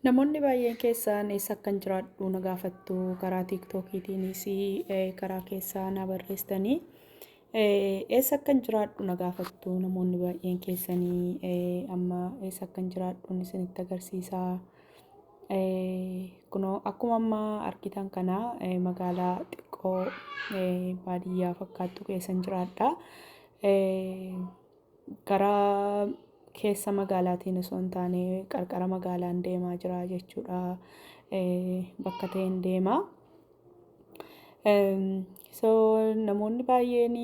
Namoonni baay'een keessaan eessa akkan jiraadhu na gaafattu karaa tiiktookiitiinis karaa keessaa na barreessitanii eessa akkan jiraadhu na gaafattu namoonni baay'een keessanii amma eessa akkan jiraadhu isinitti agarsiisa. Kunoo akkuma amma argitan kana magaalaa xiqqoo baadiyyaa fakkaattu keessan jiraadha. Gara keessa magaalaatiin osoo hin taane qarqara magaalaan deemaa jira jechuudha. Bakka ta'een deema. So namoonni baay'een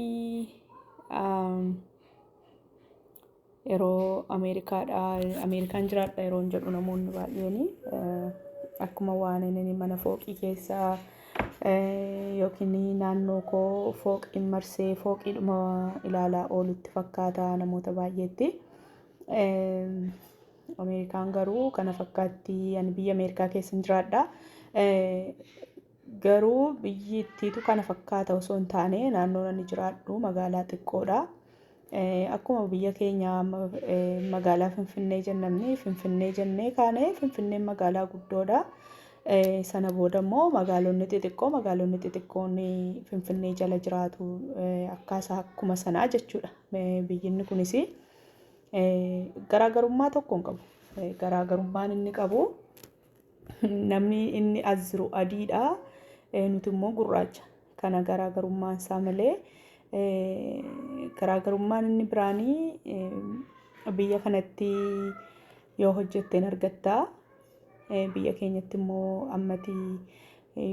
yeroo Ameerikaadha Ameerikaan jiraadha yeroo jedhu namoonni baay'een akkuma waan inni mana fooqii keessa yookiin naannoo koo fooqiin marsee fooqiidhuma ilaalaa oolutti fakkaata namoota baay'eetti. Ameerikaan garuu kana fakkaatti ani biyya Ameerikaa keessa hin jiraadha. Garuu biyyittiitu kana fakkaata osoo hin taane naannoon ani jiraadhu magaalaa xiqqoodha. Akkuma biyya keenya amma magaalaa Finfinnee jennamne Finfinnee jennee kaane Finfinneen magaalaa guddoodha. Sana booda immoo magaalonni xixiqqoo magaalonni xixiqqoon Finfinnee jala jiraatu akkaasaa akkuma sanaa jechuudha. Biyyinni kunis garaagarummaa tokko hin qabu. Garaagarummaan inni qabu Namni inni as jiru adiidha. Nuti immoo gurraacha. Kana garaagarummaan isaa malee garaagarummaan inni biraanii biyya kanatti yoo hojjetteen argatta. Biyya keenyatti immoo ammati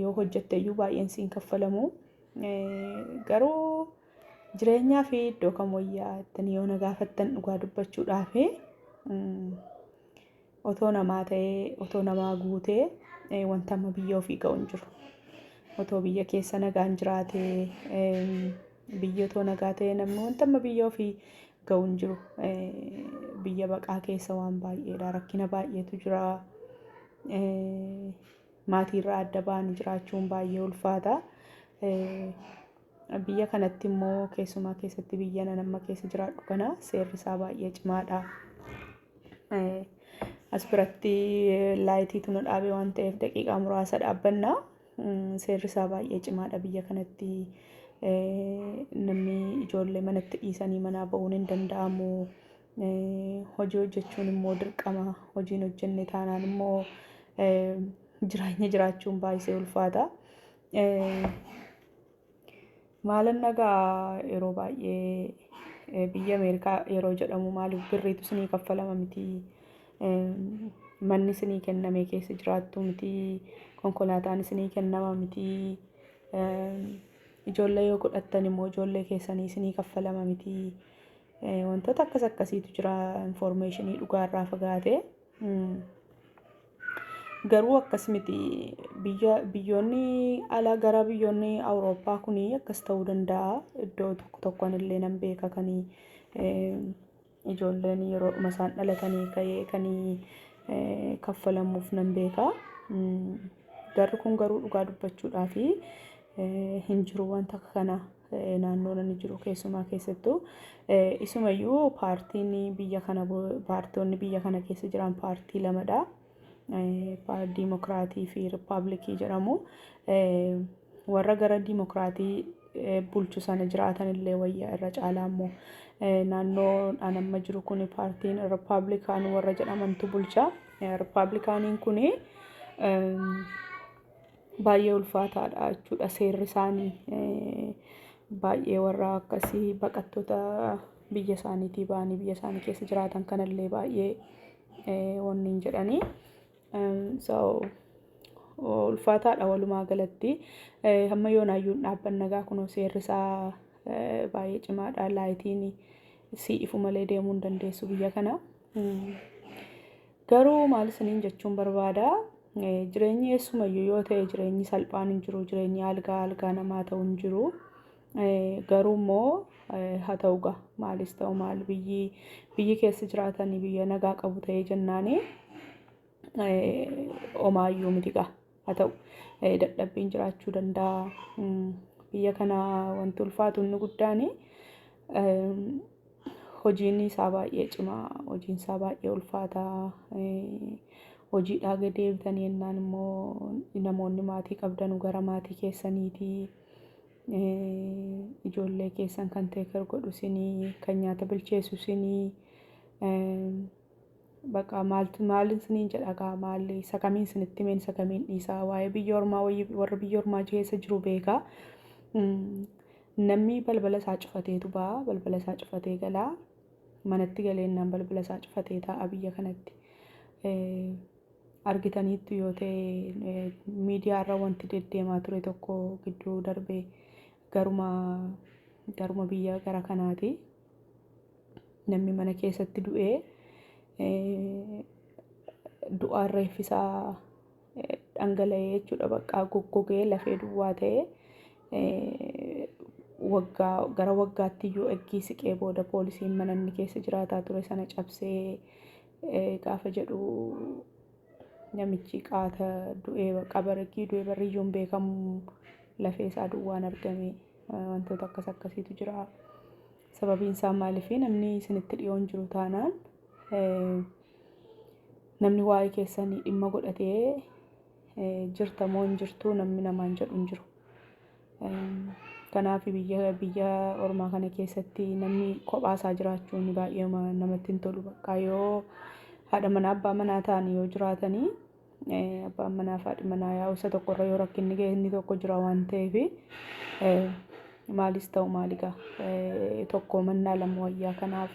yoo hojjette iyyuu baay'een siin kaffalamu. Garuu jireenyaa fi iddoo kam wayyaa ittanii yoo na gaafattan dhugaa dubbachuudhaaf Otoo namaa ta'ee, otoo namaa guutee wanta amma biyya ofii ga'u hin jiru. Otoo biyya keessa nagaan jiraatee, biyyi otoo nagaa ta'ee namni wanta amma biyya ofii ga'u hin jiru. Biyya baqaa keessa waan baay'eedha. Rakkina baay'eetu jira. Maatiirraa adda ba'anii jiraachuun baay'ee ulfaata. Biyya kanatti immoo keessumaa keessatti biyya nan amma keessa jiraadhu kana seerri isaa baay'ee cimaadha. As biratti laayitiitu nu dhaabe waan ta'eef daqiiqaa muraasa dhaabbanna. Seerri isaa baay'ee cimaadha biyya kanatti namni ijoollee manatti dhiisanii manaa ba'uun hin danda'amu. Hojii hojjechuun immoo dirqama. Hojiin hojjenne taanaan immoo jiraachuu baay'ee ulfaata. Maalan nagaa yeroo baay'ee biyya Ameerikaa yeroo jedhamu maaliif birriitu isinii kaffalama miti manni isinii kenname keessa jiraattu miti konkolaataan isinii kennama miti ijoollee yoo godhattan immoo ijoollee keessanii isinii kaffalama miti wantoota akkas akkasiitu jira informeeshinii dhugaarraa fagaatee. Garuu akkas miti biyya biyyoonni alaa gara biyyoonni awurooppaa kun akkas ta'uu danda'a iddoo tokko tokkoon illee nan beeka kan ijoolleen yeroo dhuma isaan dhalatanii ka'ee kan kaffalamuuf nan beeka. Garri kun garuu dhugaa dubbachuudhaaf hin jiru wanta kana. naannoon inni jiru keessumaa keessattuu isumayyuu paartiin biyya kana paartoonni biyya kana keessa jiran paartii lamadha. Diimokiraatii fi Rippaabilikii jedhamu. Warra gara diimokiraatii bulchu sana jiraatan illee wayya irra caalaa immoo naannoo an amma jiru kun paartiin Rippaabilikaan warra jedhamantu bulcha. Rippaabilikaaniin kuni baay'ee ulfaataadha jechuudha seerri isaanii baay'ee warra akkasii baqattoota biyya isaaniitii ba'anii biyya isaanii keessa jiraatan kanallee baay'ee wanniin jedhanii so ulfaataadha walumaa galatti hamma yoonaayyuu dhaabban nagaa kunoo seerri isaa baay'ee cimaadha laayitiin si ifu malee deemuu hin dandeessu biyya kana garuu maal isiniin jechuun barbaada Jireenyi eessumayyuu yoo ta'e jireenyi salphaan hin jiru. Jireenyi algaa algaa namaa ta'u hin jiru. Garuu immoo haa ta'u gaa maalis ta'u maal biyyi biyyi keessa jiraatanii biyya nagaa qabu ta'ee jennaanii omaayyuu miti gaa haa ta'u dadhabbiin jiraachuu danda'a. Biyya kana wanti ulfaatu inni guddaanii. Hojiin isaa baay'ee cimaa, hojiin isaa baay'ee ulfaataa. Hojiidhaa gad deebitanii jennaan immoo namoonni maatii qabdanu gara maatii keessaniitii. Ijoollee keessan kan teeker godhu isinii, kan nyaata bilcheessu isinii. Baqa maaltu maalin isiniin jedha kaa maali isa kamiin isinitti himeen isa kamiin dhiisaa waa'ee biyya ormaa wayyi warri biyya ormaa keessa jiru beekaa. Namni balbala isaa cufateetu ba'a, balbala isaa cufatee gala. Manatti galeennaan balbala isaa cufatee taa'a biyya kanatti. Argitaniittu yoo ta'e miidiyaarra wanti deddeemaa ture tokko gidduu darbee garuma garuma biyya gara kanaati. Namni mana keessatti du'ee du'aan reeffisaa dhangala'ee jechuudha baqqaa goggogee lafee duwwaa ta'ee waggaa gara waggaatti iyyuu eggii siqee booda poolisiin mana inni keessa jiraataa ture sana cabsee gaafa jedhu namichi qaata du'ee baqqaa bargii du'ee barriyyuun beekamu lafee isaa duwwaan argame wantoota akkas akkasiitu jira. Sababiin isaa maaliifi namni isinitti dhiyoon jiru taanaan namni waa'ee keessanii dhimma godhatee jirta moo hin jirtu namni namaan jedhu hin jiru. Kanaaf biyya biyya ormaa kana keessatti namni kophaa isaa jiraachuun baay'ee namatti hin tolu. Bakka yoo haadha manaa abbaa manaa ta'anii yoo jiraatanii Abbaan manaa fi haadhi manaa yaa'u isa tokko irra yoo rakkinni ga'e inni tokko jira waan ta'eef maalis ta'u maali gaa tokko mannaa lama wayya kanaaf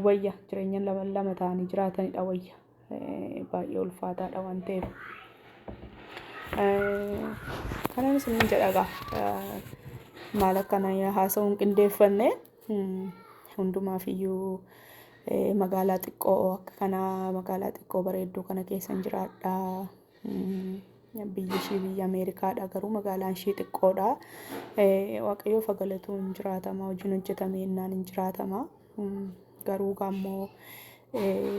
wayya jireenya lama lama ta'anii jiraatanidha wayya baay'ee ulfaataadha waan ta'eef. Kanan isiniin jedha gaa maal akka haasa'uun qindeeffannee. Hundumaaf iyyuu magaalaa xiqqoo akka kanaa magaalaa xiqqoo bareedduu kana keessan jiraadha. Biyyi ishii biyya Ameerikaadha garuu magaalaan ishii xiqqoodha. Waaqayyoof haa galatu hin jiraatama hojiin hojjetame innaan hin jiraatama. Garuu gaammoo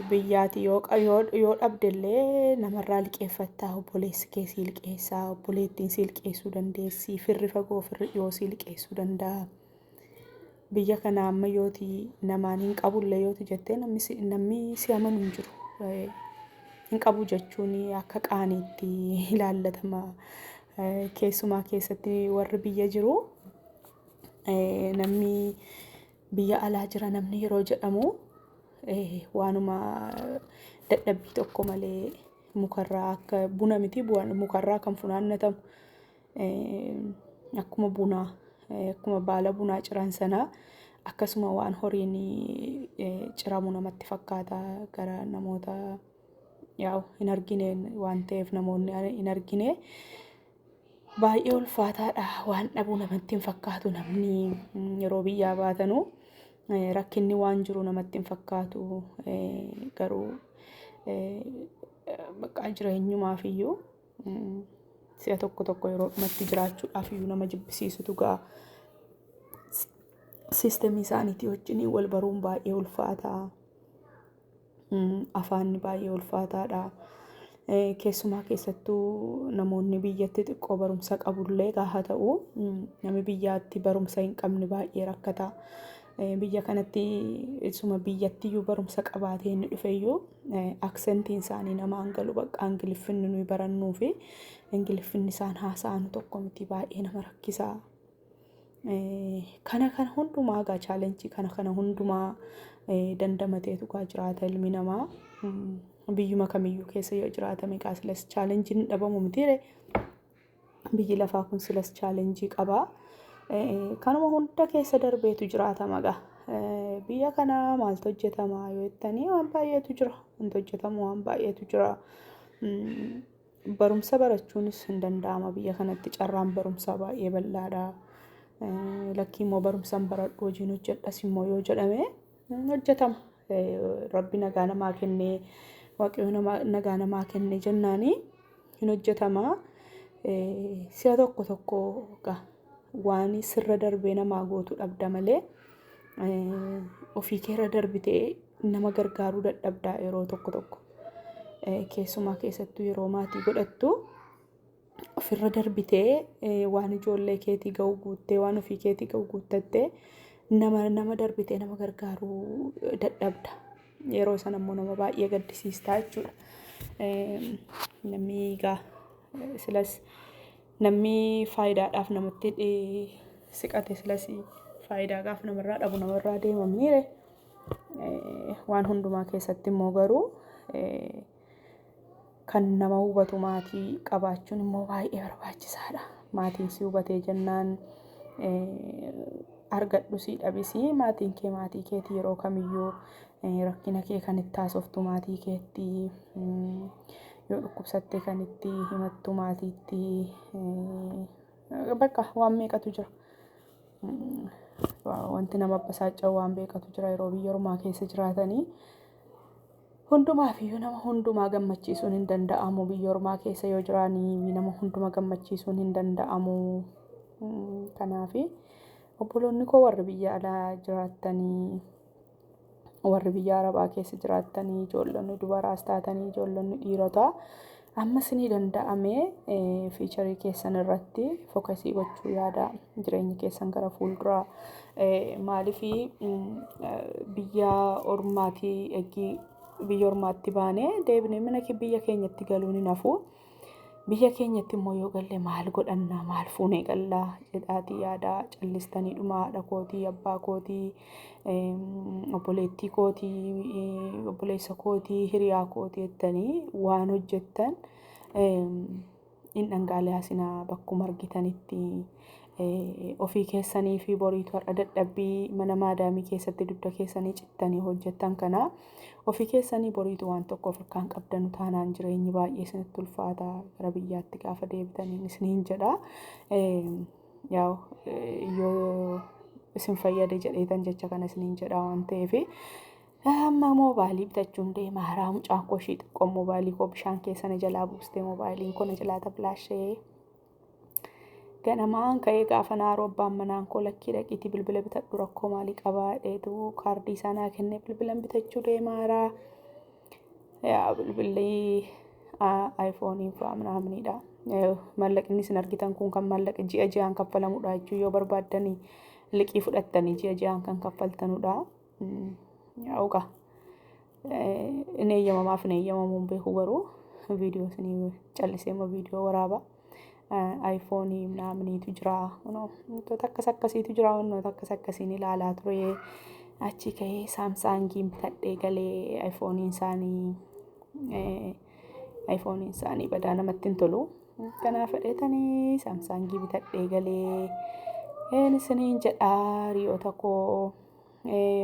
biyyaati yoo qa- yoo yoo dhabdellee namarraa liqeeffattaa obboleessi kee sii liqeessaa obboleettiin sii liqeessuu dandeessi firri fagoo firri dhiyoo sii liqeessuu danda'a. Biyya kana amma yooti namaan hin qabullee yooti jettee namni si- namni si amanu hin jiru. Eh, Hin qabu jechuun akka qaaniitti ilaallatama. Eh, Keessumaa keessatti warri biyya jiru eh, namni biyya alaa jira namni yeroo jedhamu eh, waanuma dadhabbii tokko malee mukarraa akka buna miti bu'an mukarraa kan funaannatamu akkuma bunaa akkuma baala bunaa ciran sanaa akkasuma waan horiin ciramu namatti fakkaata gara namoota yaa'u hin argine waan ta'eef namoonni hin argine baay'ee ulfaataadha waan dhabuu namatti hin fakkaatu namni yeroo biyyaa baatanu rakkinni waan jiru namatti hin fakkaatu garuu baqaa jireenyumaaf iyyuu Si'a tokko tokko yeroo dhumatti jiraachuudhaaf iyyuu nama jibbisiisutu ga'a. Siistemii isaaniitii wajjin wal baruun baay'ee ulfaata. Afaanni baay'ee ulfaataadha. Keessumaa keessattuu namoonni biyyatti xiqqoo barumsa qabullee gaafa ta'u namni biyyaatti barumsa hin qabne baay'ee rakkata. Biyya kanatti isuma biyyattiyyuu barumsa qabaatee inni dhufeyyuu aksentiin isaanii namaan galu bakka ingiliffinni nuyi barannuu fi ingiliffinni isaan haasa'an tokko miti baay'ee nama rakkisaa. Kana kana hundumaa egaa chaalenjii kana kana hundumaa dandamateetu egaa jiraata ilmi namaa biyyuma kamiyyuu keessa yoo jiraatame egaa silas chaalenjiin dhabamu mitiire. biyyi lafaa kun silas chaalenjii qaba. Kanuma hunda keessa darbeetu jiraatama gaa. Biyya kana maaltu hojjetama yoo jettanii waan baay'eetu jira. Wanti hojjetamu waan baay'eetu jira. Barumsa barachuunis hin danda'ama biyya kanatti carraan barumsaa baay'ee bal'aadha. Lakkii immoo barumsan baradhu hojiin hojjedhas immoo yoo jedhame hojjetama. Rabbi nagaa namaa kennee waaqayyo nama nagaa namaa kenne jennaani hin hojjetama. Si'a tokko tokko egaa waan sirra darbee namaa gootu dhabda malee ofii keerra darbitee nama gargaaruu dadhabda yeroo tokko tokko. Keessumaa keessattuu yeroo maatii godhattu ofirra darbitee eh, waan ijoollee keetii ga'u guuttee waan ofii keetii ga'u guuttattee nama nama darbitee nama gargaaruu eh, dadhabda. Yeroo sana immoo nama baay'ee gaddisiistaa jechuudha. Eh, Namni egaa eh, silas namni faayidaadhaaf namatti eh, siqate silas faayidaa gaaf namarraa dhabu namarraa deemamniire. Eh, waan hundumaa keessatti immoo garuu eh, kan nama hubatu maatii qabaachuun immoo baay'ee barbaachisaadha. Maatiin si hubatee jennaan argadhu si dhabisi maatiin kee maatii keetii yeroo kamiyyuu rakkina kee kan itti haasoftu maatii keetti yoo dhukkubsattee kan itti himattu maatiitti bakka waan meeqatu jira. Wanti nama basaaca'u waan beekatu jira yeroo biyya ormaa keessa jiraatanii. Hundumaaf iyyuu nama hundumaa gammachiisuun hin danda'amu. Biyya ormaa keessa yoo jiraanii nama hunduma gammachiisuun hin danda'amu. Kanaaf obboloonni koo warri biyya alaa jiraattanii warri biyya arabaa keessa jiraattanii ijoollonni dubaraas taatanii ijoollonni dhiirotaa Amma isinii danda'amee fiicharii keessan irratti fokasii gochuu yaada jireenyi keessan gara fuulduraa maalifi biyya ormaatii eggii biyya ormaatti baanee deebinee mana biyya keenyatti galuun hin hafu. Biyya keenyatti immoo yoo galle maal godhanna maal fuunee gallaa jedhaatii yaada callistanii dhumaa haadha kootii abbaa kootii obboleettii kootii, obboleessa kootii, hiriyaa kootii jettanii waan hojjettan hin dhangaalasinaa bakkuma argitanitti ofii keessanii fi boriitu har'a dadhabbii mana maadaamii keessatti dugda keessanii cittanii hojjettan kana ofii keessanii boriitu waan tokko of harkaan qabdanu taanaan jireenyi baay'ee isinitti ulfaata gara biyyaatti gaafa deebitaniin isiniin jedha. Yaa yoo isin fayyade jedheetan jecha kana isiniin jedha waan ta'eef amma moobaayilii bitachuun deema haraa mucaan koo ishii xiqqoo moobaayilii koo bishaan keessa na jalaa buustee moobaayiliin koo na jalaa tablaashee ganamaan ka'ee gaafa naaroo abbaan manaan koo lakkii dhaqiitii bilbila bitadhu rakkoo maalii qabaa dheetu kaardii isaa naa kennee bilbilan bitachuu deema haraa. Yaa bilbilli iPhone fa'aa minaaminidha. Mallaqni isin argitan kun kan mallaqa ji'a ji'aan kaffalamudha jechuun yoo barbaaddani liqii fudhattanii ji'a ji'aan kan kaffaltanudha. Yaa ugaa. Inni eeyyamamaaf hin eeyyamamuun beeku garuu viidiyoo isinii callisee immoo viidiyoo waraaba. Ayfoonii naamniitu jira. Wantoota akkas akkasiitu jira. Wantoota akkas akkasiin ilaalaa ture. Achi ka'ee saamsaangiin bitadhee galee ayfooniin isaanii ayfooniin isaanii badaa namatti hin tolu. Kanaaf fedheetanii saamsaangii bitadhee galee. Een isiniin jedhaa riyoota koo.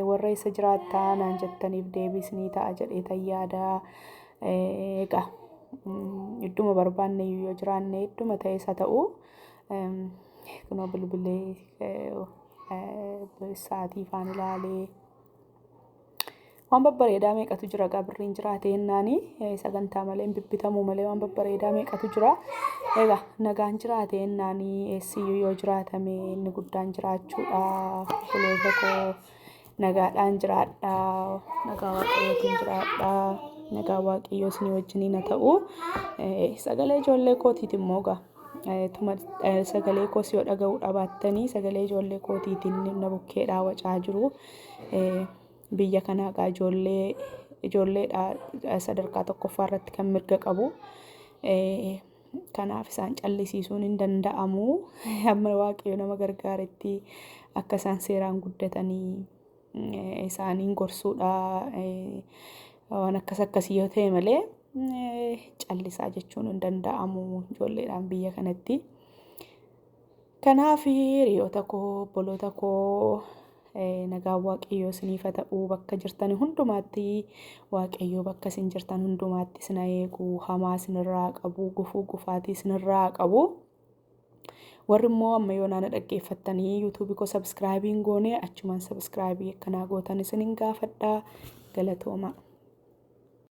warra eessa jiraattaa naan jettaniif deebiis ni ta'a jedheetan yaada. Egaa idduma barbaanne iyyuu yoo jiraanne idduma ta'es haa ta'u kunoo bilbilee sa'aatii ifaan ilaalee Waan babbareedaa meeqatu jira egaa birriin jiraatee jennaani sagantaa malee hin bibbitamuu malee waan babbareedaa meeqatu jira. Egaa nagaan jiraatee jennaani eessiyyuu yoo jiraatame inni guddaan jiraachuudha. Obboloota koo nagaadhaan jiraadha. Nagaa waaqayyootiin jiraadha. Nagaa waaqayyoo isinii wajjiniin haa ta'u. Eh, Sagalee ijoollee kootiiti immoo egaa. Eh, Tuma eh, sagalee koos yoo dhaga'uu dhabaattanii sagalee ijoollee kootiitiin na bukkeedhaa wacaa jiru. Eh, Biyya kanaa gaa ijoollee ijoolleedha sadarkaa tokkoffaa irratti kan mirga qabu. Kanaaf isaan callisiisuun hin danda'amu. Amma waaqayyo nama gargaaretti akka isaan seeraan guddatanii isaaniin gorsuudha. Waan akkas akkasii yoo ta'e malee callisaa jechuun hin danda'amu ijoolleedhaan biyya kanatti. Kanaafi hiriyoota koo, obboloota koo nagaan Waaqayyoo isiniif haa ta'u bakka jirtan hundumaatti Waaqayyoo bakka isin jirtan hundumaatti isin haa eegu hamaa isinirraa haa qabu gufuu gufaatii isinirraa haa qabu. Warri immoo amma yoo naana dhaggeeffattanii yuutuubii koo sabiskiraayibii hin goone achumaan sabiskiraayibii akkanaa gootan isinin gaafadha galatoomaa.